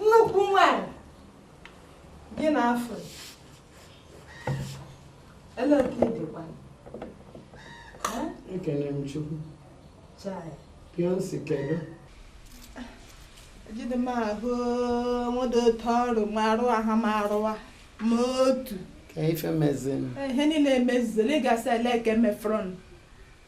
nnukwu nwanyị gị na afọ ele otu ị dịkwa Eh? ekele m chukwu Chai. beyonce kedu ejide m ahụ nwedị otu ọrụ ma arụ aha m arụwa ma otu ka ife mezin ihe niile emezizela ịgasị ele eke mefrọn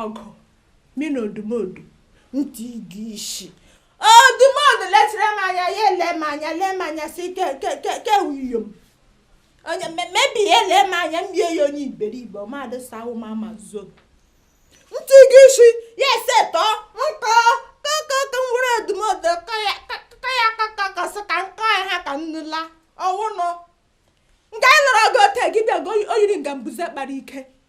ọgụ mi na odumodu ntị ịga isi odumodu letịrị m anya ya ele m anya lee m anya si ke ke ke ke wuyo m onye mebi ya ele m anya m bie ya onye iberibe mmadụ sawo m ama zo ntị ịga isi ya ese tọọ nkọ kọkọkọ nwere odumodu kọ ya kọ ya kọkọkọ sị ka nkọ ya ha ka nnụla ọwụnụ nga a lụrụ ọgụ ote gị bịa o yiri nga mbuze kpara ike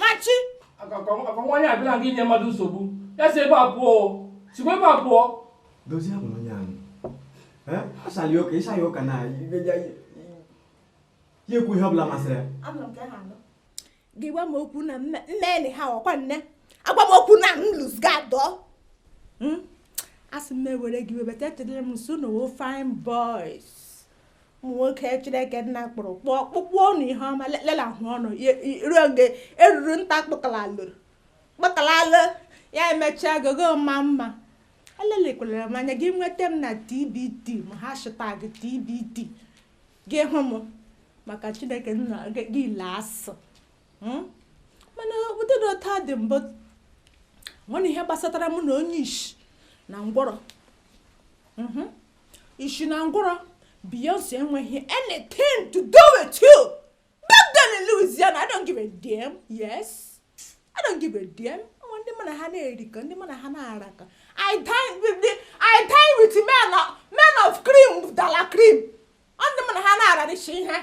machi ọkwa nwaanyị a abịala gị inye mmadụ nsogbu ya si ebe a pụọ sikwa ebe a pụọ dozie hapụ nwaanyị a asala ya ụka ị saa ya ụka na ya ekwu ihe ọbụla masịrị ya gị gwa m okwu na mmeni ha ọkwa nne agwa m okwu na m lose guard o hmm? asị m ewere gị webata echetara m nso na ofe fine boys ụmụ nwoke chineke nna kpụrụ kpụọ kpụkpụọ ọnụ ihe ọma lelahụ ọnụ ruo oge eruru nta kpụkala lụrụ kpụkala lụ ya emechaa gogo mma mma alelekwala m anya gị nweta m na tbt m hashtag tbt gị hụ m maka chineke nna gị ilo asụ hmm? mana ọ bụdị otu a dị mbụ o nweghị ihe gbasatara mụ na onye isi na ngwụrọ hmm? Ishi na ngwụrọ, Beyonce enweghị anything to do with you. Back then in Louisiana, I don't give a damn. Yes. I don't give a damn. Nwa ndị mụ na ha na-erikọ, ndị mụ na ha na-arakọ. I dine with the, I dine with men of, men of cream, de la cream. Ọ ndị mụ na ha na-ararịcha ihe.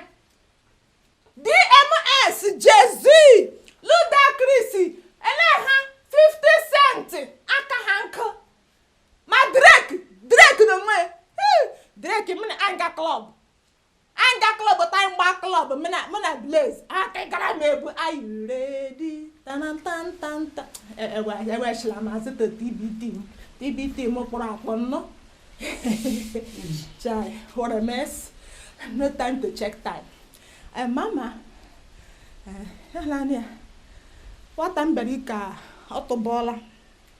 DMX, Jay-Z, Ludacris, ele ha 50 cent aka ha nkụ. ma drake drake na onwe drake m na anga club anga club ta mgba club m na m na blaze aka gara m ebu are you ready tanantantanta ewechila e, e, e, mazị to tbt m tbt m kpọrọ akpọ nnọ chai what a mess no time to check time eh, mama eh, ya naanị ya nwata m bịara ike a ọ tụbọọla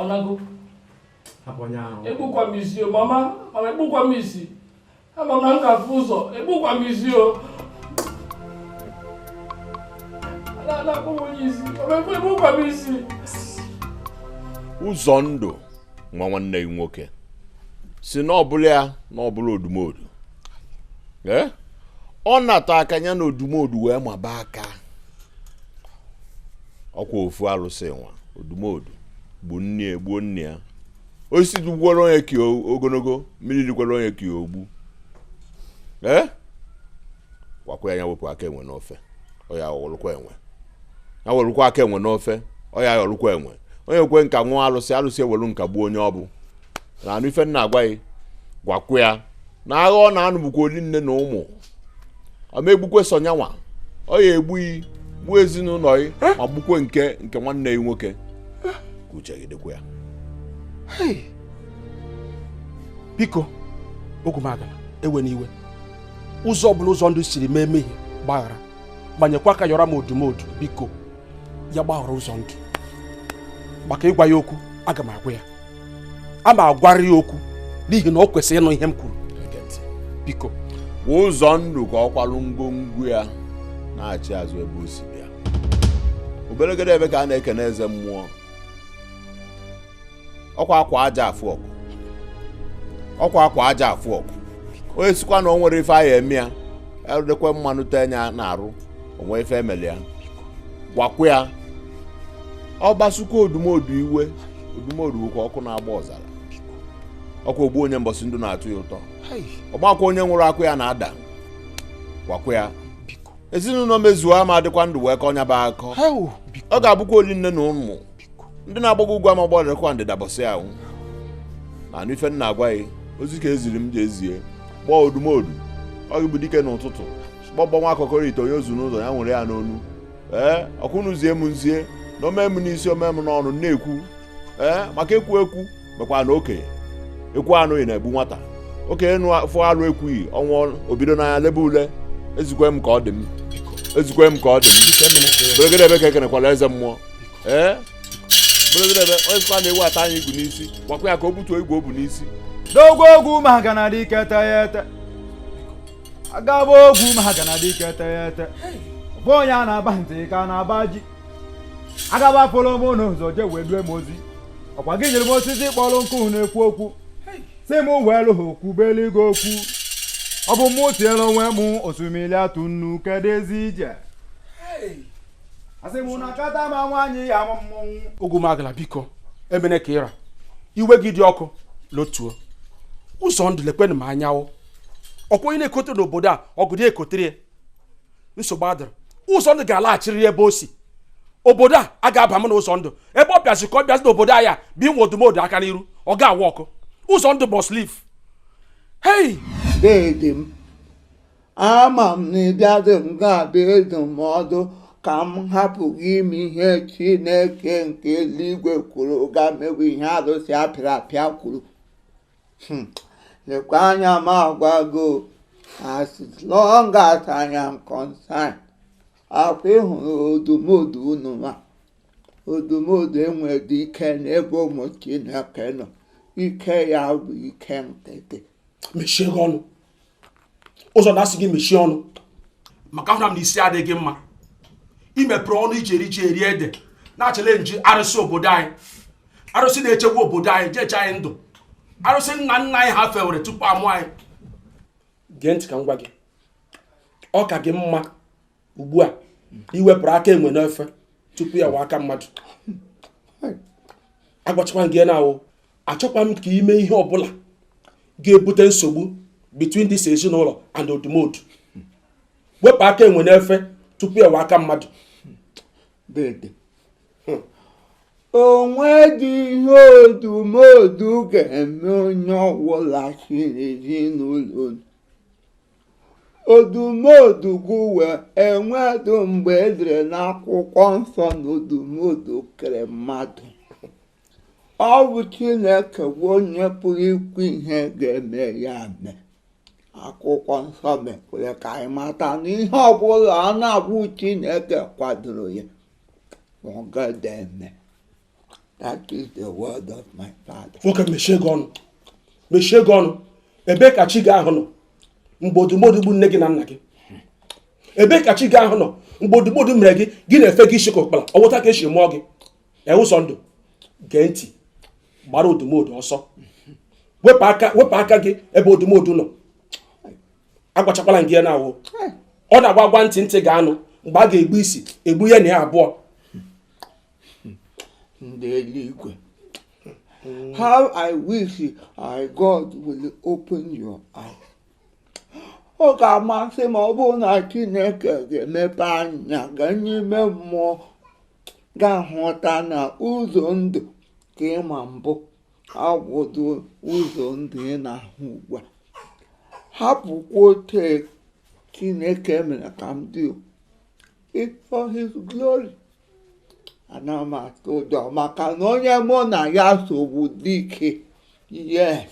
ọnago egbukwa m isi o mama mama egbukwa m isi ama m na m ga-afụ ụzọ egbukwa m isi o na-akpọ m onye isi egbukwa m isi ụzọndụ nwa nwanne gị nwoke si na ọbụla ya na ọbụla odumodu eh? ọ na-atọ aka ya na odumodu wee maba aka ọkwa ofu alụsị nwa odumodu gbuo nne ya gbuo nne ya osisi dagbukwara onye ka ogologo mmiri rikwara onye ka egwu ee eh? gwakwa ya wepụ aka enwe n'ofe ọ ya-awụlụkwa enwe ya werukwa aka enwe n'ofe ọ ya-ayọrụkwa enwe onye kwe nka ṅụọ alụsị alụsị ewelu nka gbuo onye ọ bụ na-anụ ife m na-agwa ya gwakwa ya na agha ọ na-anụ bụkwa oli nne na ụmụ ọ ma-egbukwe sọ nya nwa ọ ya-egbu yi gbuo ezinụlọ yi ma gbukwe nke nke nwanne ya nwoke ka uche gị dịkwa ya biko ogwumagana ewena iwe ụzọ ọbụla ụzọndụ siri mee mehie gbaghara gbanyekwa aka yọrọ m odumodu biko ya gbaghara ụzọndụ maka ịgwa ya okwu aga m agwa ya a ma agwara ya okwu n'ihi na ọ kwesịrị ịnụ ihe m kwuru biko ụzọndụ ka ọ kwalụ ngwongwo ya nachi azụ ebe o si bịa obelegede ebe ka a na-ekene eze mmụọ ọkwa akwa aja afụ ọgụ ọkwa akwa aja afụ ọgụ onye sikwa na o nwere ife a ya-eme ya edekwe mmanụ tee nya n'arụ o nwe ife emeli ya gwakwa ya ọ kpasukwa odumodu iwe odumodu ka ọkụ na-agba ọzara ọkwa ogbu onye mbọsị ndụ na-atọ ya ụtọ ọgbakwa onye nwụrụ akụ ya na-ada gwakwa ya ezinụlọ mezuo ama adịkwa ndụ wee kọọ nya bụ akọ ọ ga-abụkwa oli nne na ụmụ ndị na-agbago ugwu ama gbadarakwa ndịda mbọsị ahụ na-anụ ife m na-agwa gị ozi ka eziri m jee zie gbaa odumodu ọ gị bụ dike n'ụtụtụ gbọgbọ nwa akọkọrọ ite onye ozu n'ụzọ ya nwere ya n'onu ee ọkwa ụnụ zie m m zie na o mee m n'isi o mee m n'ọnụ na-ekwu ee maka ekwu ekwu mekwa na okenye ekwuo anụghị na-egbu nwata okenye fụ alụ ekwughị ọ nwụọ o bido n'anya lebe ule ezikwe m ka ọ dị m ezikwe m ka ọ dị m beregede ebe ka ekenekwala eze mmụọ ee beregede ebe onye sịkwa na ewu ataa nya igu n'isi gwakwa ya ka o butuo igu o bu n'isi n'ogwu ogwu ma ha ga na adị ike ete ya ete agaba ogwu ma ha ga na adị ike ete ya ete ọ bụ onye a na-aba ntị ka a na-aba ji agaba pụọrọ m n'ụzọ jee wee due m ozi ọkwa gị nyere m osisi kpọrọ nkụ na-ekwu okwu sị m welu ha kwubelu gị okwu ọ bụ mụ tiere onwe m osimiri atụ nnu kedu ezi ije asị m na kata ma nwaanyị ya ama mmọnwụ ogumagala biko emene ka ị ra iwe gị dị ọkụ lotuo ụzọndụ lekwenụ m anyanwụ ọkwa onye na-ekoteghị n'obodo a ogori ya ekotere ya nsogbu adịrọ ụzọndụ ga-alaghachirịrị ebe o si obodo a a ga-aba m na ụzọndụ ebe ọ bịazi ka ọ bịazi n'obodo a ya biwe odumodu aka n'iru ọ ga-awụ ọkụ ụzọndụ must leave hey deede m ama m na ịbịadị m ga-abịa adụ m ọdụ ka m hapụ ịga ime ihe chineke nke eluigwe kwuru ga mewe ihe arụsị apịrị apịa kwuru hmm. lekwa anya m agwa gị o as long as I am concerned ọkwa ịhụrụ odumodu unu a odumodu enwedu ike n'ebe ụmụ Chineke nọ ike ya bụ ike nkịtị mechie gị ọnụ ụzọndụ asị gị mechie ọnụ maka ahụla m na isi adịghị gị mma imepere ọnụ iji eri ji eri ede na-achallenge arụsị obodo anyị arụsị na-echekwa obodo anyị ji eche anyị ndụ arụsị nna nna anyị ha fewere tupu a mụọ anyị gee ntị ka m gwa gị ọ ka gị mma ugbu a iwepụrụ aka enwe n'ofe tupu ya awụọ aka mmadụ agwachakwa gị now achọkwa m ka i mee ihe ọbụla ga-ebute nsogbu between this ezinụlọ and odumodu wepụ aka enwe n'ofe tupu ya awụọ aka mmadụ o nwedu ihe odumodu ga-eme onye ọbụla si n'ezinụlọ odumodu bụ onye enwedu mgbe edere n'akwụkwọ nsọ na odumodu kere mmadụ ọ bụ chineke bụ onye pụrụ ikwu ihe ga-eme ya mee akwụkwọ nsọ mekwere ka anyị mata na ihe ọbụla a na-abụ chineke kwadoro ya ọ gada eme nwoke mechie gị ọnụ mechie gị ọnụ ebee ka chi gị ahụ nọ mgbe odumodu gbu nne gị na nna gị ebee ka chi gị ahụ nọ mgbe odumodu mere gị gị na-efe gị isi ka ụkpara ọ wụ otu a ka e si mụọ gị ee ụzọndụ gee ntị gbara odumodu ọsọ wepụ aka wepụ aka gị ebe odumodu nọ agwachakwala gị ya now ọ na-awụ agwa ntị ntị ga-anụ mgbe a ga-egbu isi egbuo ya na ya abụọ ndị eluigwe how i wish god will open your eyes ọ ga-amasị m ma ọ bụrụ na chineke ga-emepe anya gị n'ime mmụọ gị ahụta na ụzọndụ nke ị ma mbụ abụghị ụzọndụ ị na-ahụ ugbu a hapụkwa otu chineke mere ka m dị for his glory anaghị m atụ ụjọ maka na onye mụ na ya so bụ dike yes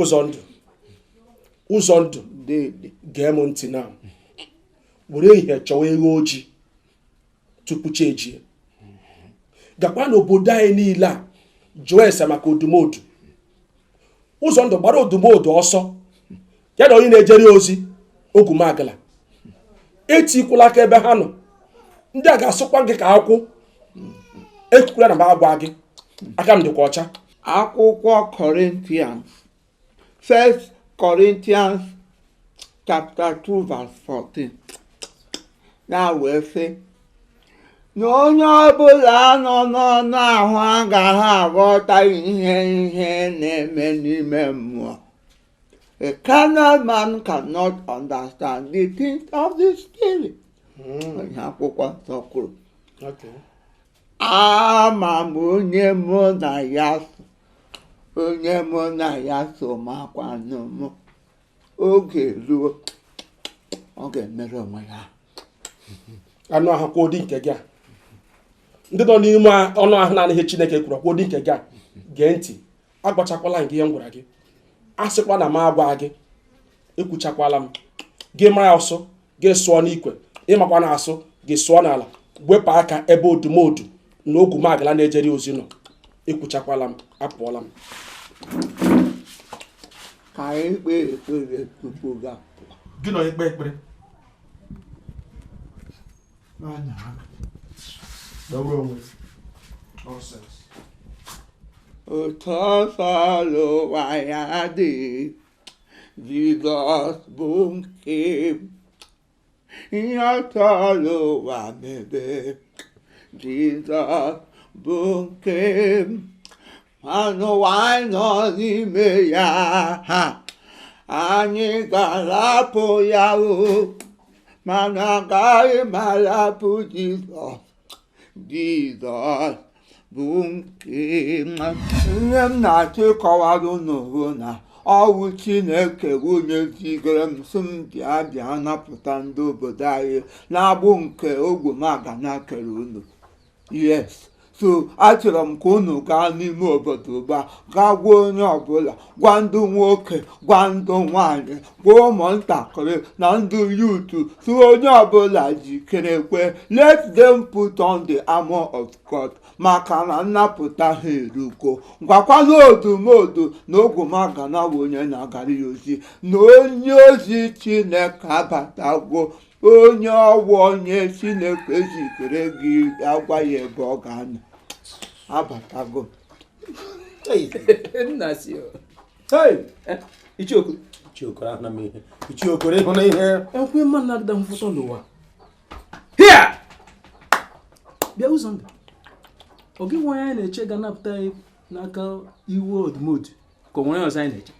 ụzọndụ ụzọndụ gee m ntị na were ehihie chọwa eghu ojii tupu chi ejie gakwa n'obodo anyị niile a jụọ ese maka odumodu ụzọndụ gbara odumodu ọsọ ya na onye na-ejere ya ozi ogwumagala etikwula aka ebe ha nọ ndị a ga-asụkwa gị ka akwụ ekwukwula na m agwaghị gị aka m dịkwa ọcha akwụkwọ Corinthians First Corinthians chapter 2 verse 14 ya wee sị na onye ọbụla nọ n'anụ ahụ agaghị aghọta ihe ihe na-eme n'ime mmụọ A carnal man cannot understand the things of the spirit. Ihe akwụkwọ nsọ kwuru. Ama m onye mụ na ya so, onye mụ na ya so makwanụ m. Oge ruo, ọ ga-emere onwe ya. Anụ ahụ ka ụdị nke gị a. Ndị nọ n'ime anụ ahụ na-anaghị anụ ihe Chineke kwuru ka ụdị nke gị a. Gee ntị. agwachakwala gị ihe m gwara gị asịkwa na m agwaghị gị ekwuchakwala m gị mara asụ gị sụọ n'ikwe ị maghịkwanụ asụ gị sụọ n'ala wepụ aka ebe odumodu na ogwumagala na-ejere ya ozi nọ ekwuchakwala m apụọla m ka anyị kpee ekpere tupu gị apụọ gịnị ikpe ekpere otu ọ sọrọ ụwa ya dị Jizọs bụ nke m ihe ọ sọrọ ụwa mebe Jizọs bụ nke n'ụwa anyị nọ n'ime ya ha anyị ga-arapụ ya o mana agaghị m arapụ Jizọs Jizọs bụ nke m ihe m na-achọ ịkọwara unu bụ na ọwụ chineke wụ onye zigara m sị m bịa bịa napụta ndị obodo anyị n'agbụ nke ogwumagana kere unu yes so achọrọ m ka unu gaa n'ime obodo ugbu a gaa gwa onye ọbụla gwa ndị nwoke gwa ndị nwanyị gwa ụmụntakịrị na ndị youth sị onye ọbụla jikerekwe let them put on the armor of God maka na nnapụta ha erugo gwakwana odumodu na ogwumagana wụ onye na-agara ya ozi na onye ozi chineke abatago onye ọwụ onye chineke zitere ga-agwa ya ebe ọ ga-anọ abatago nna si o. Hey! Eh, ichioku Ichiokoro ahụna m ihe. Ichiokoro ịhụ na ihe. ekwe mma na adịda mfụtọ n'ụwa hia bịa ụzọ ndụ ọ gị nwa anyị na-eche ga napụta anyị n'aka iwu odumodu ka o nwere ọzọ anyị na-eche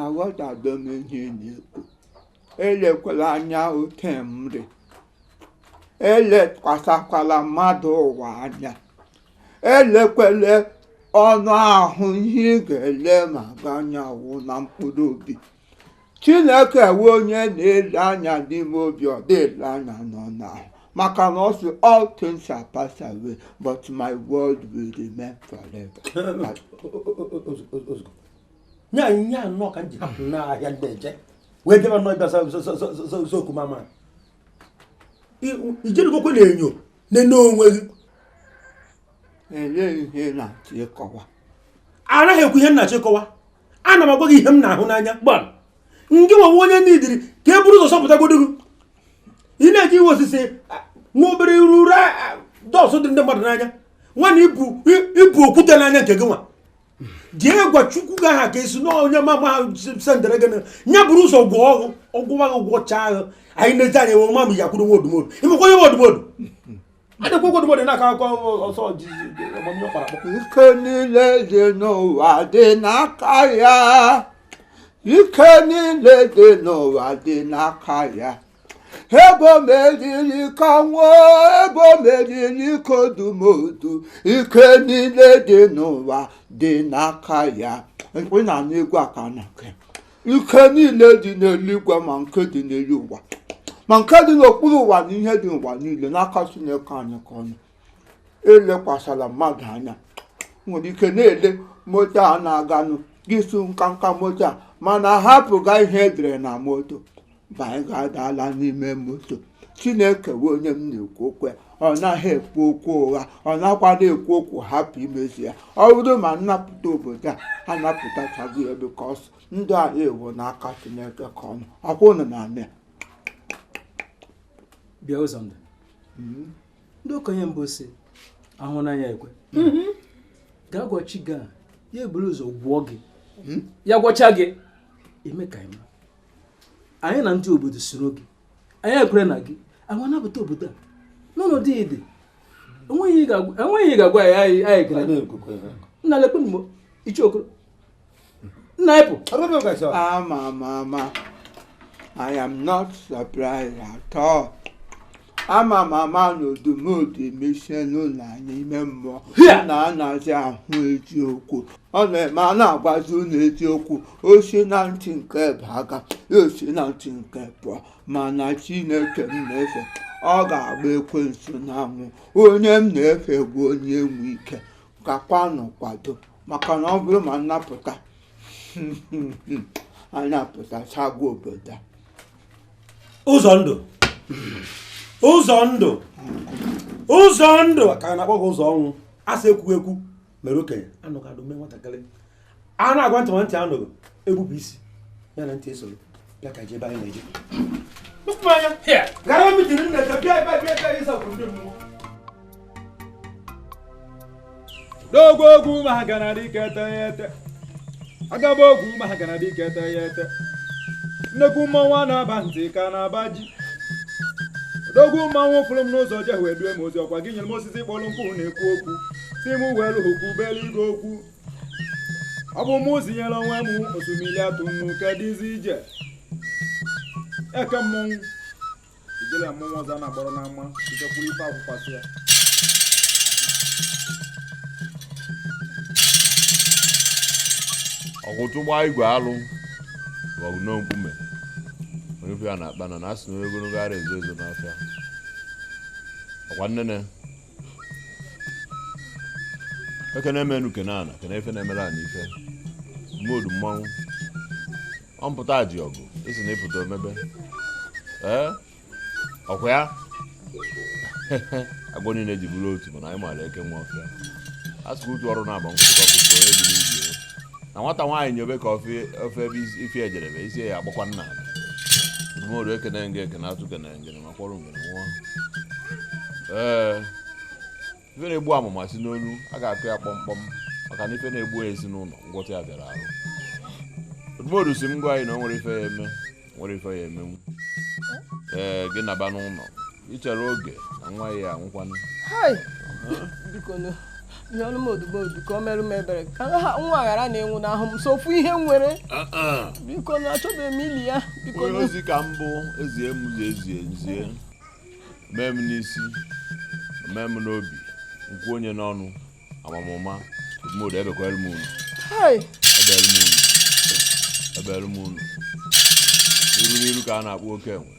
aghọtago m ihe ị na-ekwu elekwala anya oke mri elekwasịkwala mmadụ ụwa anya elekwala anụ ahụ ihe ị ga-elema anya wụ na mkpụrụ obi chineke wụ onye na-ele anya n'ime obi ọ dị ele anya n'anụ ahụ maka na ọ sị all things shall pass away but my word will remain forever nye anyị ihe anọ ka m ji n'ahịa ndị eje wee debe nọ ịbịa zoku mama ijerigokwe n'enyo nene onwe gị ihe m na-achọ ịkọwa anaghị m ekwu ihe m na-achọ ịkọwa ana m agwa gị ihe m na-ahụ n'anya gbam gị nwa wụ onye needịrị ka e buru ụzọ zọpụtagodo gị ị na-eje iwe osisi nwa obere iru ura dust dị ndị mmadụ n'anya mana i bu okwute n'anya nke gị nwa jee gwa chukwu gị aha ka esi na onye mama ha sendere gị nya buru ụzọ gwọ ọgwụ ọgwụwa gị gwọchaa ahụ anyị na-eji anya ewe mama ya kwuru nwa odumodu ịmakwa onye nwa odumodu adịkwa nwa odumodu na-aka akọ ọsọ ọgbamnyọ kpara akpọ ike niile dị n'ụwa dị n'aka ya ike niile dị n'ụwa dị n'aka ya ebe o meriri kwa ọnwụ ebe o meriri kwa odumodu ike niile dị n'ụwa dị n'aka ya onye na-anụ egwu aka na nke ike niile dị n'eluigwe ma nke dị n'elu ụwa ma nke dị n'okpuru ụwa na ihe dị n'ụwa niile n'aka Chineke anyị ka ọ nọ elekwasala mmadụ anya nwere ike na-ele moto a na-aganụ gị sị nkanka moto a mana hapụga ihe e dere na moto banye gadala n'ime moto chineke wụ onye m na-ekwu okwu ya ọ naghị ekwu okwu ụgha ọ nakwanụ ekwu okwu hapụ imezu ya ọ bụrụ ma nnapụta obodo a anapụtachago ya because ndụ anyị wụ n'aka chineke ka ọ nọ ọkwa ụnụ na-anụ bịa Ụzọndụ hmm? ndị okenye mbụ sị ahụ n'anya ekwe mm-hmm. gaa gwa chi gị ya eburu ụzọ gwọọ gị hmm? ya gwọcha gị eme ka ị ma anyị na ndị obodo soro gị anyị ekwere na gị anyị anapụta obodo a n'ọnọdụ ịdị enweghị ihe ga-agwa anyị gara nna lekwenụ m o Ichie Okoro nna ịpụ ama m ama I am not surprised at all. ama m ama na Odumodu emechie ụnụ anya ime mmụọ na anazị ahụ eziokwu ọ na-eme a na-agwazi ụnụ eziokwu o si na ntị nke baga ya esi na ntị nke pụọ mana chineke m na-efe ọ ga-agba ekwensu n'anwụ onye m na-efe bụ onye nwe ike gakwanụ kwado maka na ọ bụrụ ma nnapụta anapụtachago obodo a Ụzọndụ Ụzọndụ ụzọ ndụ ka a na-akpọ gị ụzọ ọnwụ a sị ekwu ekwu mere okenye anụghị anụ mee nwatakịrị a na-agwa ntị ntị anụghị egbupụ isi ya na ntị esoro bịa ka jebe anyị na-eje gara mitiri nna bịa bịa bịa ịsa kwuru ndị mmụọ odogwu ogwu ma ha ga na-adị ka ete ya ete agaba ogwu ma ha ga na-adị ka ete ya ete nnekwu mmanwụ a na-aba ntị ka a na-aba ji odogwu mmanwụ fụrụ m n'ụzọ je wee due m ozi ọkwa gị nyere m osisi kpọrọ nkụ na-ekwu okwu sị m welụ okwu belu igwe okwu ọ bụ mụ zinyere onwe m osimiri atụ nnu kedụzi ije eke mmọnwụ ijele mmọnwụ ọzọ a na-agbara n'ama itekwuru ife akwụkwasị ya ọkwụtụ gbaa igwe alụ maọbụ nọ nkume onye ife ya na-akpa na na asị na onye ogologo ara ezo ezo n'afịa ọkwa nnene ekene m enu kene ana kene ife na-emere ana ife mmodu mmanwụ ọ mpụta ji ọgụ isi na ịpụta omebe ee ọkwa ya agwọ niile ji bụrụ otu mana anyị maara eke nwe ọfịa a sịkwa utu ọrụ na-agba nkwụsịkọ kwụsị onye dị n'ibi ya. na nwata nwaanyị nyobe ka ofe ofe ebe isi- ife ejerebe isi ya agbakwa nna ala odumodu ekene nge ekene atụ kene ngene ma kwọrọ ngene nwa ee ife na-egbu amụma si n'onu a ga-akụ ya kpọmkpọm maka na ife na-egbu ezinụlọ ngwọta ya bịara arụ odumodu sị m gwa anyị na o nwere ife ya eme nwere ife ya emenwu ee gị naba n'ụlọ ichere oge na nwa ya anwụkwanụ ihe ọnụ m odumodu ka o merụ m ebere ka ha nwa ghara na-anwụnahụ m sọ ofu ihe nwere ah, ah. biko na achọbeghị m ili ya biko ozi ka m bu ezie m zie ezie m zie mee m n'isi mee m n'obi nkwu onye n'ọnụ amamụma odumodu ebekwara m unu ebere m unu ebere m unu iru n'iru ka a na-akpụ oke enwe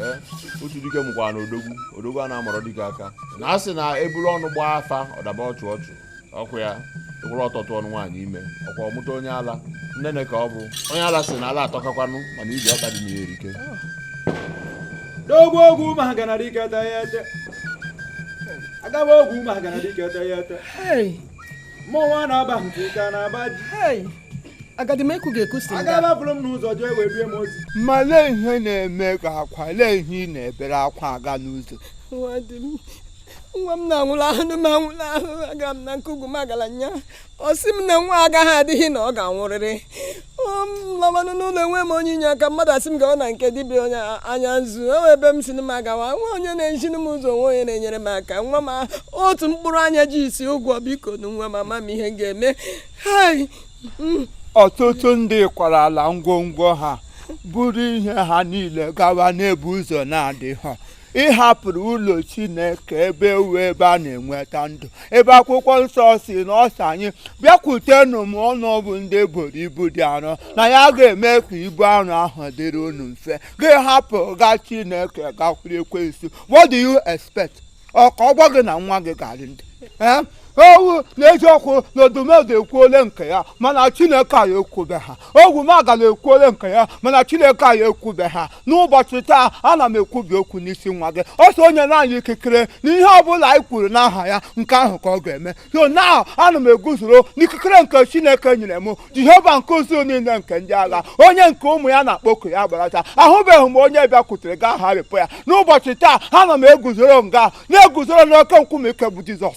ee otu dike mụkwara na odogwu odogwu a na-amọrọ dike aka na a sị na eburu ọnụ gbaa afa ọ daba ọchụ ọchụ ọkwa ya wụrụ ọtụtụ ọnụ nwaanyị ime ọkwa ọmụta onye ala nnene ka ọ bụ onye ala sị na ala atọka kwanụ mana ije ọkpa dị na ya erika odogwu ogwumagana dike ete ya ete agaba ogwumagana dike ete ya ete mmọnwụ a na-aba nke ike na-aba ji agadi m ekwu ga-ekwu si agaba buru m n'ụzọ jee wee bie m ozi ma lee ihe na-eme gị akwa lee ihe ị na-ebere akwa aga n'ụzọ nwa m na-anwụlahụ m anwụlahụ aga m na nke ogwumagala nya ọ sị m na nwa agaghị adịghị na ọ ga-anwụrịrị lamanụ n'ụlọ enwe m onye inye aka mmadụ asị m gawa na nke dibịa onye anya nzu enwe ebe m sị m agawa nwe onye na-eziri m ụzọ nwe onye na-enyere m aka nwa m otu mkpụrụ anya ji isi ụgwọ biko na nwa m ama m ihe m ga-eme mm. ọtụtụ ndị kwarala ngwongwo ha buru ihe ha niile gawa n'ebe ụzọ na-adịghị ị hapụrụ ụlọ chineke ebe ọ wụ ebe a na-enweta ndụ ebe akwụkwọ nsọ sị na ọ sị anyị bịakwutenụ m unu bụ ndị e boro ibu dị arọ na ya ga-eme ka ibu arọ ahụ dịrị unu mfe gị hapụ nga chineke gakwuru ekwensu what do you expect ọ ka ọ gwa gị na nwa gị ga-arị ndụ ọ wụ n'eziokwu na odumodu ekwuole nke ya mana chineke anyị ekwubeha ogwumagala ekwuole nke ya mana chineke anyị ekwubeha n'ụbọchị taa ana m ekwubi okwu n'isi nwa gị ọ sị o nyena anyị ikikere na ihe ọ bụla anyị kwuru n'aha ya nke ahụ ka ọ ga-eme so now ana m eguzoro n'ikikere nke chineke nyere m jehova nke usuu niile nke ndị agha onye nke ụmụ ya na-akpọku ya agbarata ahụbeghị m onye bịakwutere gị aharịpụ ya n'ụbọchị taa ana m eguzoro m ga na-eguzoro n'oke nkume ike bụ jizọs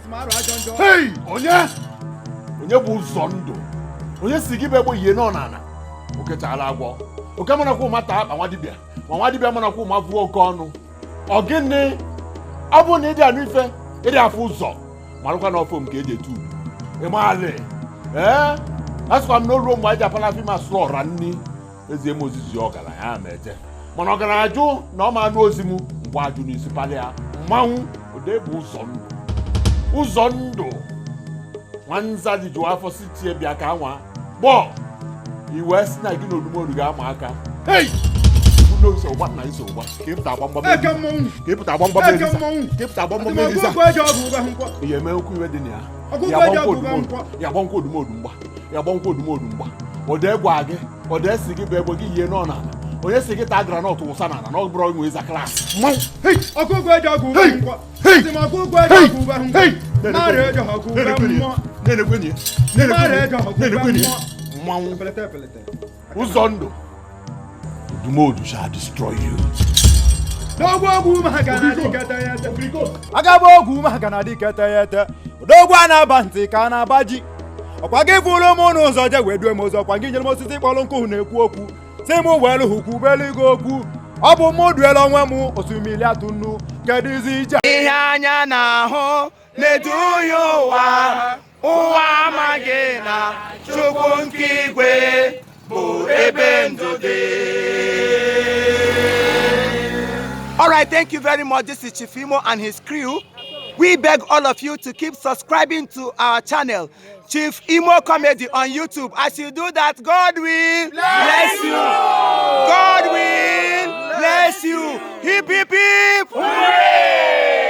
Hey! onye onye bụ ụzọ ndụ onye si gị bụ egbe yie nọ n'ala okechala agwọ oke manakwa ụma taa akpa nwa dibịa ma nwa dibịa manakwa ụma vụọ oke ọnụ ọ gịnị ọ bụ na ị dị anụ ife ị dị afụ ụzọ malụkwa na ọfọ nke eji etu ịmaalị ee asịkwa m na o ruo mgbe anyị ji apala fim a sụrụ ọra nni e zie m ozi zi ọgaranya a ma eje mana ọgaranya jụ na ọ ma anụ ozi m ngwa ajụ n'isi palị ya mmanwụ ode bụ ụzọ ndụ ụzọ ndụ nwanza rijuo afọ sị chi ya bịa ka a nwaa gbọọ iwe si na gị na odumodu ga-ama aka hei ụlọ iso ụgba na iso ụgba ka ịpụta agba mgbam eke mmọnwụ ka ịpụta agba mgbam eke elisa mmọnwụ ka ịpụta agba mgbam elisa ihe eme okwu iwe dị na ya ya agbanakwa odumodu mgba ya agbanakwa odumodu mgba odee gwa gị odee si gị bụ egbe gị yie nọ n'ala onye si gị taa groundnut wụsa n'ala na ọ bụrọ ị nwe ịza class ọkụkọ eji ọgụ ube ngwa ọkụkọ eji ọgụ ube ngwa narị eji ọgụ ube mmụọ na-enekwenye na-enekwenye mmanwụ ụzọ ndụ Odumodu shall destroy you. N'ogwu ogwu ume ha ga na-adị kete ya ete. Agaba ogwu ume ha ga na-adị kete ya ete. Odogwu a na-aba ntị ka a na-aba ji. Ọkwa gị bụrụ m n'ụzọ je wee due m ụzọ ọkwa gị nyere m osisi kpọrọ nkụ na-ekwu okwu si m welu hụ kwubelu gị okwu ọ bụ mụ duela onwe m osimiri atụ nnu kedụzi ije ihe anya na-ahụ na-eduhie ụwa ụwa amaghị na chukwu nke igwe bụ ebe ndụ dị All right, thank you very much. This is Chifimo and his crew. We beg all of you to keep subscribing to our channel, Chief Imo Comedy on YouTube. As you do that, God will bless you. God will bless you. Hip, hip, hip. Hooray!